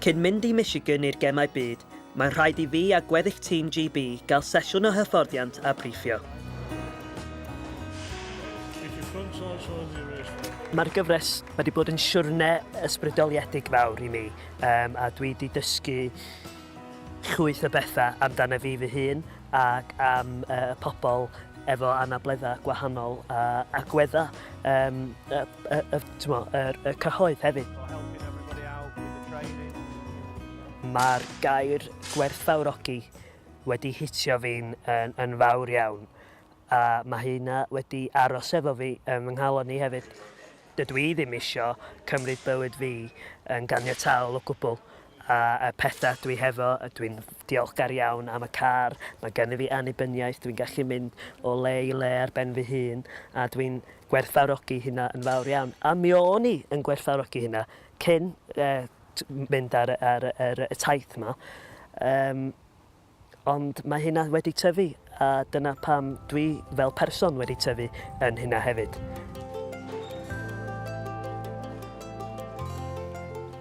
Cyn mynd i Michigan i'r Gemau Byd, mae'n rhaid i fi a gweddill tîm GB gael sesiwn o hyfforddiant a briffio. Mae'r gyfres wedi bod yn siwrne ysbrydoliedig fawr i mi um, a dwi wedi dysgu llwyth o bethau amdana fi fy hun ac am y uh, pobl efo anableddau gwahanol a agweddau um, y, y, tymo, yr, y cyhoedd hefyd. Mae'r gair gwerthfawrogi wedi hitio fi'n yn, yn fawr iawn a mae hynna wedi aros efo fi yn fy nghalon i hefyd. Dydw i ddim isio cymryd bywyd fi yn ganiataol o gwbl. A y pethau dwi hefo, dwi'n diolchgar iawn am y car, mae gennyf fi annibyniaeth, dwi'n gallu mynd o le i le ar ben fy hun, a dwi'n gwerthfawrogi hynna yn fawr iawn. A mi o'n i yn gwerthfawrogi hynna cyn mynd ar y taith 'ma. Ond mae hynna wedi tyfu a dyna pam dwi fel person wedi tyfu yn hynna hefyd.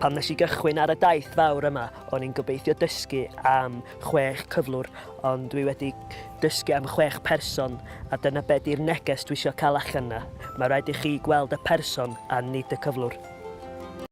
Pan nes i gychwyn ar y daith fawr yma, o'n i'n gobeithio dysgu am chwech cyflwr, ond dwi wedi dysgu am chwech person, a dyna be di'r neges dwi eisiau cael allan na. Mae rhaid i chi gweld y person a nid y cyflwr.